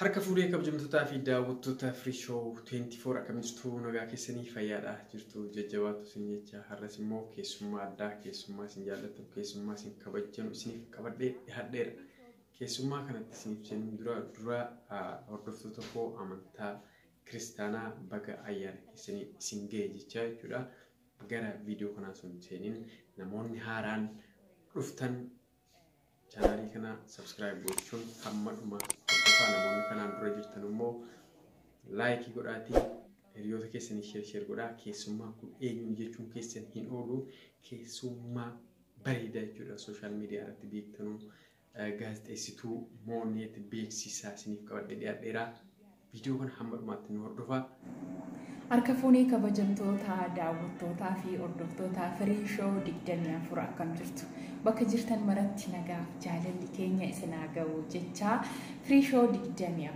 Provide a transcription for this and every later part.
Harka fuudhee kabajamtootaa fi daawwattoota Free Show 24 akkamitti nagaa keessanii fayyaadha jirtu jajjabaatu isin jecha har'as immoo keessummaa addaa keessummaa isin jaallatu keessummaa isin kabajjanu isiniif qabadhee dhiyaadheera. Keessummaa kanatti isiniif jennu dura dura hordoftoota koo amantaa kiristaanaa baga ayyaana keessanii isin ga'e jechaa jechuudha. Gara viidiyoo kanaa osoo hin seeniin namoonni haaraan dhuftan chaanaalii kana sabskiraayib gochuun hamma dhuma hordofaa namoonni kanaan dura jirtan immoo laayikii godhaatii hiriyoota keessanii sheer sheer godhaa keessummaa kun eenyuun jechuun keessan hin oolu keessummaa bareedaa jechuudha sooshaal miidiyaa irratti beektanuu Gaazexeessituu Mooneet beeksisa isiniif qabadhee dhiyaadheera. Viidiyoo kana hamma dhumaatti nu hordofaa. Harka fuunee kabajamtoota daawwattootaa fi hordoftoota firii shoo 24 akkam jirtu bakka jirtan maratti nagaaf jaalalli keenya isin haa ga'u jechaa firii shoo 24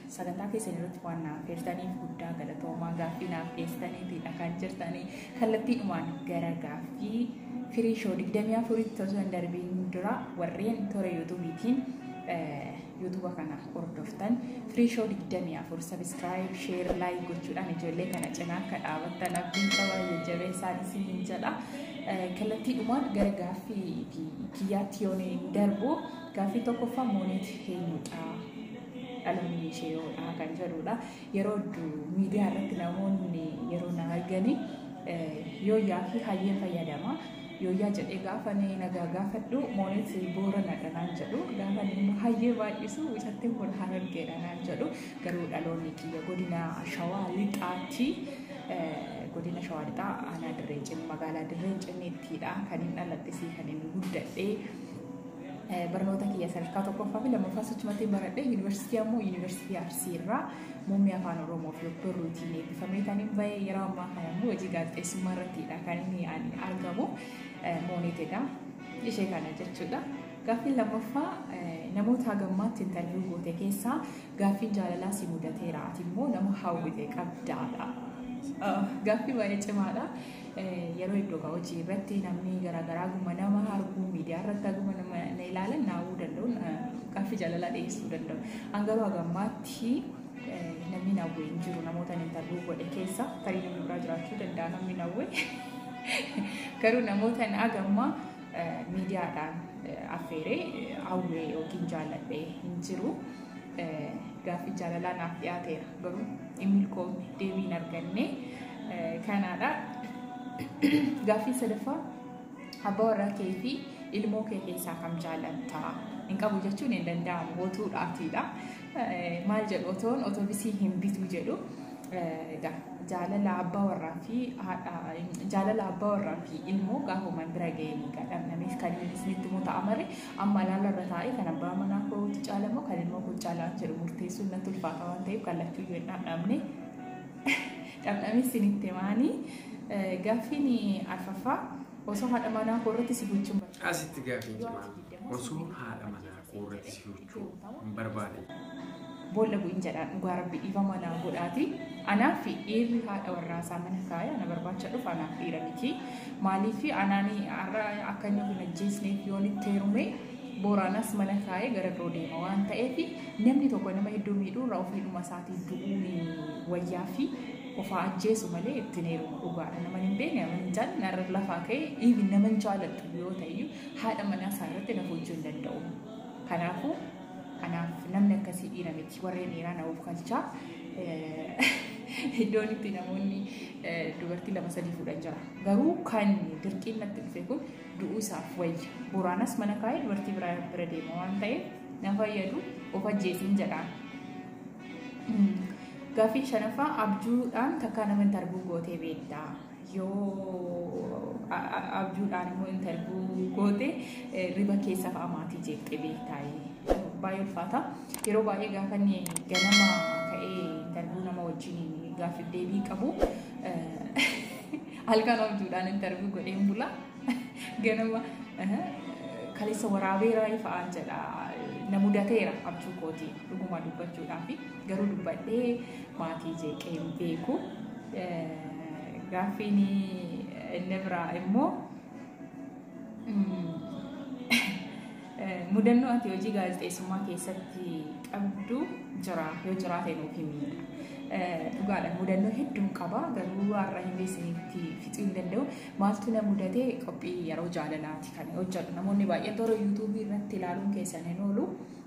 Sagantaa keessan irratti waan na affeertaniif guddaa galatoomaa gaaffii naaf dhiyeessitaniitidha kan jirtanii kallattiidhumaan gara gaaffii firii shoo 24tti osoo hin darbiin dura warreen toora yuutuubiitiin yuutuuba kana hordoftan firii shoo 24 sabiskiraayib sheer laayik gochuudhaan ijoollee kana cinaa akka dhaabattan abdiin qabaa jajjabeessaan isiniin jedha kallattiidhumaan gara gaaffii kiyyaatti yoon darbu gaaffii tokkoffaa mooneet eenyudha dhaloonni ishee yoodhaa kan jedhudha. Yeroo hedduu miidiyaa irratti namoonni yeroo na argani yooyyaa fi hayyeen fayyadama. Yooyyaa jedhee gaafa nagaa gaafadhu moonis booranadha naan jedhu gaafa immoo hayyee baay'isu mucattiin kun harargeedha naan jedhu garuu dhaloonni kiyya godina shawaa lixaatti godina shawaa lixaa aanaa dirree cinni magaalaa dirree cinniittidha kan hin dhaladhe fi kan hin guddadhe. Barnoota kiyya sadarkaa tokkoffaa fi lammaffaa sochumatti baradhe yuunivarsiitii ammoo yuunivarsiitii Arsii irraa muummee afaan Oromoo fi obbo Ruutiin eebbifamee kan hin bahe yeroo ammaa kana immoo hojii gaazexeessummaa irrattidha kan inni ani argamu mooneetedha ishee kana jechuudha. Gaaffiin lammaffaa namoota hagammaatti intarviyu goote keessaa gaaffiin jaalalaa si mudateera ati immoo nama hawwite qabdaadha. Gaaffii baay'ee cimaadha. yeroo iddoo hojii irratti namni garaagaraa guma nama arguu miidiyaa irratti aguma nama na ilaalan naawuu danda'u gaaffii jaalalaa dhiyeessuu danda'u. An garuu hagammaatti namni nawwee hin jiru namoota intarviyuu godhe keessa tarii namni biraa jiraachuu danda'a namni nawwee. Garuu namoota hagammaa miidiyaadhaan affeeree hawwee yookiin jaalladhee hin jiru. Gaaffiin jaalalaa naaf dhiyaateera garuu hin milkoofne deebii hin arganne kanaadha. Gaaffiin sadaffaa abbaa warraa kee fi ilmoo kee keessaa kam jaalatta? Hin qabu jechuun hin danda'amu gootuudhaatiidha. Maal jedhu otoon otobisii hin bitu jedhu jaalala abbaa warraa fi jaalala abbaa warraa fi ilmoo gaafumaan bira ga'ee ni gadhamnameef kan inni isinitti immoo ta'a malee Amma ilaala irra taa'ee kan abbaa manaa kootu caala moo kan ilmoo koo caala waan jedhu murteessuun natti ulfaata waan ta'eef kan lachuu iyyuu hin dhamdhamne. Dhamdhamee isinitti himaanii gaaffiin arfaffaa osoo haadha manaa koo irratti si gochuun Asitti gaaffiin cimaan osoo haadha manaa koo irratti si gochuu hin barbaade. Boolla bu'in jedhaan dhugaa rabbi dhiifama naa godhaati. Anaa fi dhiirri haadha warraasaa mana kaaya na barbaacha dhufa anaaf dhiira miti. Maaliif anaani har'a akka inni of hin ajjeesneef yoon itti heerume booraanas mana kaayee gara biroo deema waan ta'eef namni tokko nama hedduu miidhuu irraa ofii dhuma isaatii du'uun wayyaa fi ofaa ajjeesu malee ittiin heerumu dhugaadha. Nama hin beekne nama hin jaallanne narra lafaa ka'e dhiibi nama hin jaalladhu yoo ta'e haadha manaa isaa irratti na hojjuu hin danda'u. Kanaafuu anaaf namni akkasii dhiira miti warreen dhiiraa na ofkalchaa iddoon itti namoonni dubartii lama sadii fuudhan jira garuu kan dirqiin natti dhufe kun du'uu isaaf wayya boraanas mana kaa'ee dubartii biraa bira deema waan ta'eef na fayyadu of ajjeesiin jedhaan. Gaaffii shanaffaa abjuudhaan takkaa nama hin tarbuu gootee beektaa? yoo abjuudhaan immoo intarvuu goote riba keessaaf amaatii jeeqxee beektaayee. Baay'ee ulfaata. Yeroo baay'ee gaafa inni ganama ka'ee intarvuu nama wajjin gaaffiif deebii qabu halkan abjuudhaan intarvuu godhee hin bula. Ganama kaleessa waraabeera fa'aan jedha. Na mudateera abjuu kootii dhuguma dubbachuudhaaf garuu dubbadhee maatii jeeqee hin beeku. Gaaffiin inni biraa immoo mudannoo ati hojii gaazexeessummaa keessatti qabdu jira yoo jiraate nuuf himi. Dhugaadha mudannoo hedduun qaba garuu har'a hin beeksinitti fixuu hin danda'u. Maaltu na mudate qophii yeroo jaalalaati kan hojjedhu. Namoonni baay'een toora yuutuubii irratti ilaaluun keessan hin oolu.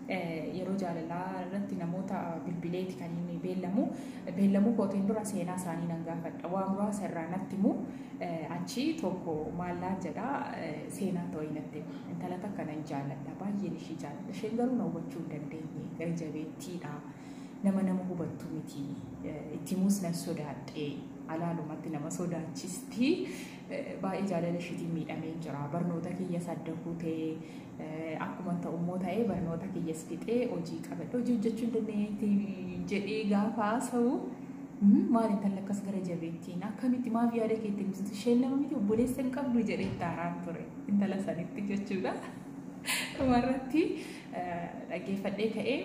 Yeroo jaalalaa irratti namoota bilbileeti kan inni beellamu. Beellamuu kootiin dura seenaa isaanii nan gaafadha. Waa muraasa irraa natti himu. Achi tokko maal naan jedha seenaa ta'uu natti hima. Intala takka nan jaalladha. Baay'een ishii jaalladha. Isheen garuu na hubachuu hin dandeenye. Gara jabeettiidha. Nama nama hubattu miti. Itti himuus nan sodaadhe. Alaalumatti nama sodaachisti. baay'ee jaalala ishiitiin miidhamee jira barnoota kiyyas adda kuutee akkuma ta'u immoo ta'ee barnoota kiyyas fixee hojii qabadhe hojii hojjechuu hin dandeenyetti jedhee gaafa haasa'u maal intalli akkas gara jabeettiin akkamitti maaf yaada keetti ibsitu isheen lama miti obboleessa hin qabdu jedhee itti haaraan ture intala sanitti jechuudha. Dhumarratti dhaggeeffadhee ka'ee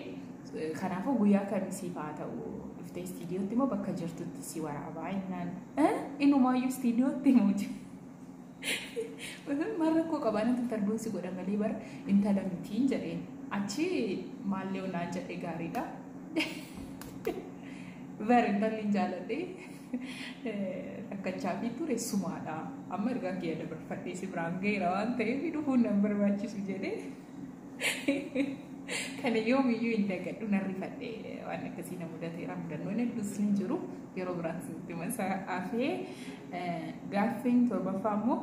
Kanaafuu guyyaa kamii siif haa ta'u dhuftee istiidiyootti moo bakka jirtutti si waraabaa innaan inumaayyuu istiidiyootti muuti. Maal rakkoo qabaa namni tarbuun si godha malee bara intala mitiin jedheen achi maallee onaan jedhe gaariidha. Bara intalli hin jaaladhe rakkachaa fi ture sumaadha. Amma ergaa kiyya dabarfadhee si biraan ga'eera waan ta'eef dhufuun nan barbaachisu jedhee. Kana yoomiyyuu hin dagadhu nan rifadhe waan akkasii na mudateera mudannoon hedduus hin jiru yeroo biraas itti masa afee gaaffiin torbaffaa immoo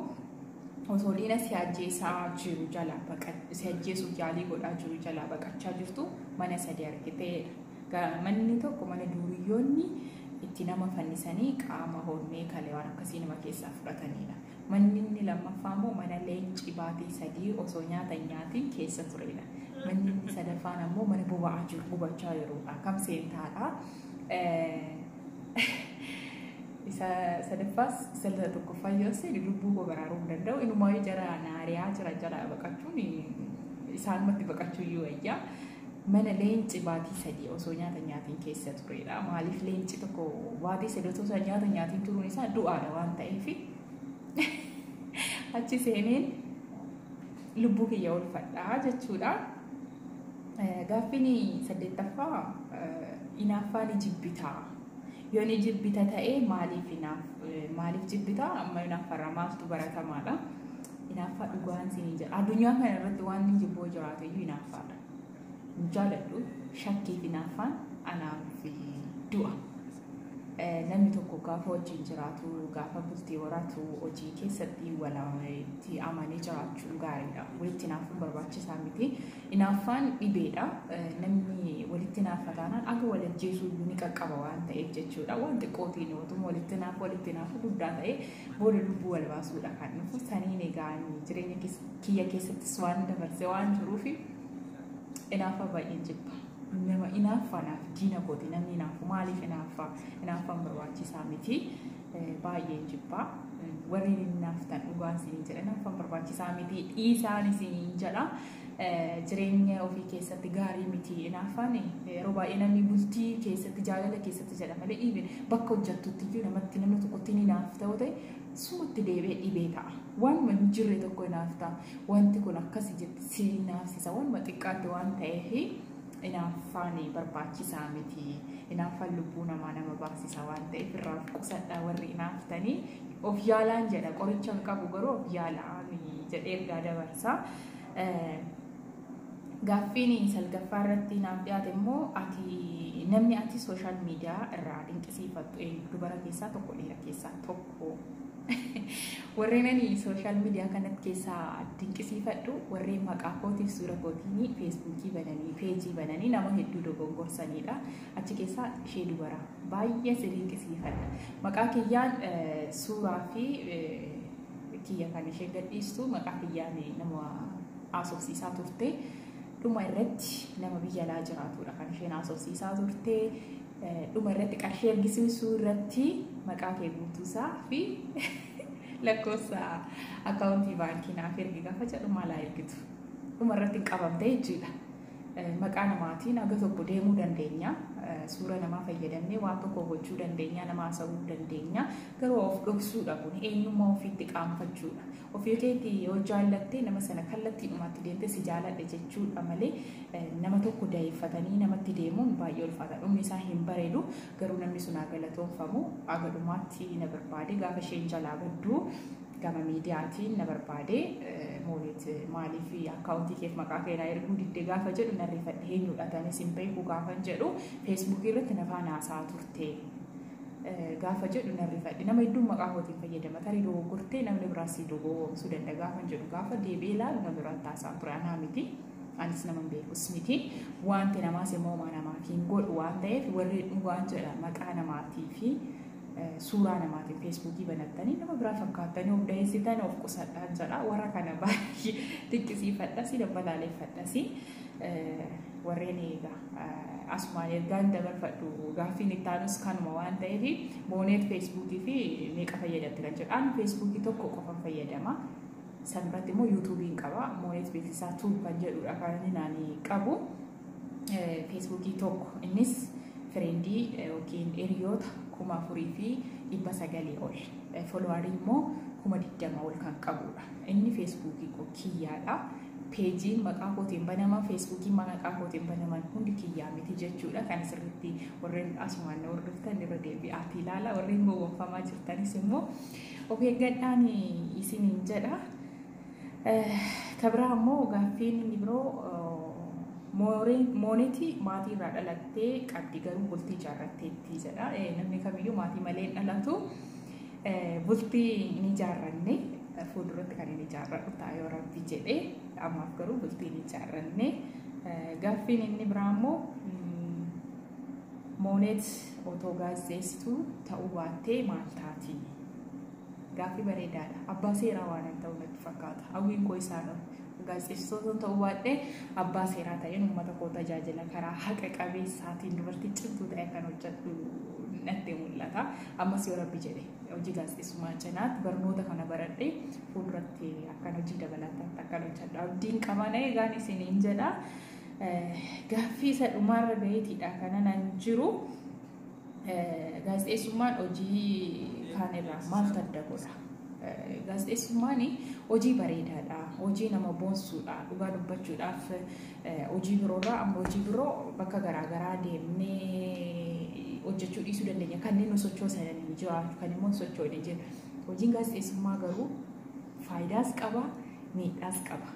osoo diina si ajjeesaa jiru jalaa baqa si ajjeesuuf yaalii godhaa jiru jalaa baqachaa jirtu mana sadii argiteedha. Manni tokko mana duuriyyoonni itti nama fannisanii qaama hormee kalee waan akkasii nama keessaa fudhatanidha. Manni inni lammaffaa immoo mana leenci baatii sadii osoo nyaata hin nyaatiin keessa turedha. Manni inni sadaffaan ammoo mana boba'aa jiru gubachaa jirudha. Kam seentaadha? Isa sadaffaas isa tokkoffaa yoo seenu lubbuu koo baraaruu hin danda'u. Inumaayyuu jara naariyaa jira jala baqachuun isaanumatti baqachuu iyyuu wayyaa. Mana leenci baatii sadii osoo nyaata nyaatiin keessa tureedha. Maaliif leenci tokko baatii sadii osoo isaa nyaata nyaatiin turuun isaa du'aadha waan ta'eef achi seeneen lubbuu kiyya oolfadhaa jechuudha. Gaaffiin saddeettaffaa inaaffaa ni jibbitaa. Yoo ni jibbita ta'e maaliif inaaf maaliif jibbita amma inaaffarraa maaltu baratamaadha. Inaaffaa dhugaan siinii jira. Addunyaa kana irratti waan inni jibboo jiraate iyyuu inaaffaadha. Hin jaaladhu shakkii fi inaaffaan anaa fi du'a. Namni tokko gaafa wajjin jiraatu, gaafa bultii horaatu hojii keessatti walitti amanee jiraachuun gaariidha. Walitti inaaffuun barbaachisaa miti. Inaaffaan dhibeedha. Namni walitti inaaffa taanaan akka wal ajjeesuu ni qaqqaba waan ta'eef jechuudha. Waan xiqqootiin otuma walitti inaaffa walitti inaaffa guddaa ta'e booda lubbuu wal baasuudha kan dhufu saniin egaa jireenya kiyya keessattis waan dabarse waan jiruuf inaafa baay'een jibba. Nama inaaffaa naaf diina kooti namni inaafu maaliif inaaffaa inaaffaan barbaachisaa miti baay'een jibba. Warri inaafftan dhugaan isin jedha inaaffaan barbaachisaa miti dhiisaan isin jedha. jireenya ofii keessatti gaarii miti inaaffaan yeroo baay'ee namni bultii keessatti jaalala keessatti jedha malee dhiibe bakka hojjattutti iyyuu namatti nama tokkotti ni naaf ta'u ta'e sumatti deebi'ee dhibee ta'a. Waanuma hin jirre tokko inaaf ta'a. Wanti kun akkasi jetti si naafsisa waanuma xiqqaatti waan ta'eef inaaffaan barbaachisaa miti. Inaaffaan lubbuu namaa nama baasisa waan ta'eef irraa of qusadhaa warri inaaftanii of yaalaan jedha qoricha hin qabu garuu of yaalaan jedhee ergaa dabarsaa. Gaaffiin salgaffaa irratti naaf dhiyaate immoo ati namni ati sooshaal miidiyaa irraa dinqisiifattu eenyu dubara keessaa tokko dhiira keessaa tokko. Warreen ani sooshaal miidiyaa kanatti keessaa dinqisiifadhu warreen maqaa kootiif suura kootiin feesbuukii bananii peejii bananii nama hedduu dogongorsanidha. Achi keessaa ishee dubara baay'ee si dinqisiifadha. Maqaa kiyyaan suuraa fi kiyya kan ishee gadhiistu maqaa kiyyaan nama haasofsiisaa turte dhuma irratti nama biyya alaa jiraatudha kan isheen haasofsiisaa turte dhuma irratti qarshii ergisiisuu irratti maqaa kee guutuusaa fi lakkoofsa akkaawuntii baankii naaf ergi gaafa jedhu maalaa ergitu dhuma irratti hin qabamte jechuudha. Maqaa namaatiin haga tokko deemuu dandeenya. Suura namaa fayyadamnee waan tokko gochuu dandeenya, nama haasa'uu dandeenya. Garuu of dhoksuudha kun eenyummaa ofiitti qaanfachuudha. Ofii keetti yoo jaallatte nama sana kallattiidhumatti deemtee si jaaladhe jechuudha malee nama tokko dayeeffatanii namatti deemuun baay'ee ulfaata. Dhumni isaa hin bareedu garuu namni sun haa galatoomfamu. Haga dhumaatti na barbaade gaafa isheen jalaa baddu gama miidiyaatiin na barbaade mooniit maaliif akkaawuntii keef maqaa kee naa erguu didde gaafa jedhu na rifadhe eenyudha tanis hin beeku gaafan jedhu feesbuukii irratti na faana haasaa turte gaafa jedhu na rifadhe nama hedduun maqaa kootiin fayyadama tarii dogoggortee namni biraa si dogoggoruu danda'a gaafan jedhu gaafa deebi'ee ilaalu na biraan taasaa ture anaa miti anis nama hin beekus miti wanti namaas immoo namaa hin godhu waan ta'eef warri dhugaan jedha maqaa namaatii fi suuraa namaatiin feesbuukii banattanii nama biraa fakkaattanii of daheessitan of qusadhaan jedha warra kana baay'ee xiqqisiifadhasi dabbalaaleeffadhasi warreen eegaa asumaan ergaan dabarfadhu gaaffiin itti aanus kanuma waan ta'eef booneet feesbuukii fi meeqa fayyadamte kan jedhu ani feesbuukii tokko qofan fayyadama san biratti immoo yuutuubiin qaba mooneet beeksisaa tuub kan jedhudha kan ani qabu. feesbuukii tokko innis fireendii yookiin hiriyoota kuma afurii fi dhibba sagalii ol folowaarii immoo kuma digdama ol kan qabudha. Inni feesbuukii koo kiyyaadha. Peejiin maqaa kootiin banaman feesbuukiin maqaa kootiin banaman hundi kiyyaa miti jechuudha. Kan sirriitti warreen asumaan na hordoftan irra deebi'aatii ilaala. Warreen gowwoomfamaa jirtanis immoo of eeggadhaan isiniin jedha. Ka biraa ammoo gaaffiin inni biroo mooniti maatii irraa dhalattee qabdi garuu bultii ijaarratteetti jedha. Namni kamiyyuu maatii malee hin dhalatu. Bultii hin ijaarranne fuulduratti kan hin ijaarradhu ta'a yoo rabbi jedhe ammaaf garuu bultii hin ijaarranne. Gaaffiin inni biraa ammoo mooneet otoo gaazexeessituu ta'uu baattee maal taati? Gaaffii bareedaadha. Abbaa seeraa waanan ta'u natti fakkaata. Hawwiin koo isaadha. Gaazexeessituu osoo ta'uu baadhee abbaa seeraa ta'een uummata koo tajaajila karaa haqa qabeessaatiin dubartii cimtuu ta'e kan hojjedhu natti mul'ata. Ammas yoo rabbi jedhe hojii gaazexeessummaa cinaatti barnoota kana baradhee fuulduratti akkan hojii dabalataatti akkan hojjedhu abdiin qaba na eegaan isiniin jedha. Gaaffii isa dhumaarra gaheetiidha kanan jiru. Gaazexeessummaan hojii kaan irraa maaltu adda godha? Gaazexeessummaan hojii bareedaadha, hojii nama boonsuudha, dhugaa dubbachuudhaaf hojii biroorraa amma hojii biroo bakka garaagaraa deemnee hojjechuu dhiisuu dandeenya. Kanneen nu sochoosan jiru, kan immoo hin sochoone jiru. Hojiin gaazexeessummaa garuu Faayidaas qaba, miidhaas qaba.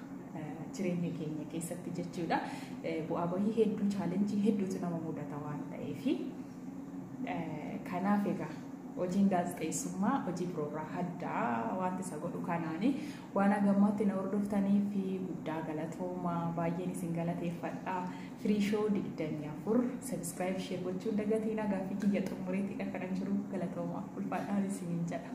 Jireenya keenya keessatti jechuudha. Bu'aa bahii hedduu chaalenjii hedduutu nama mudata waan ta'eef. Kanaaf egaa hojiin gaazexeessummaa hojii biroorraa addaa wanti isa godhu kanaani waan hagammaatti na hordoftanii fi guddaa galatoomaa baay'een isin galateeffadha. Firii shoo digdamii afur sabiskiraayib ishee gochuun dagatiin hagaafi kiyya xumureetti dhaqanan jiru galatoomaa ulfaadhaan isiniin jedha.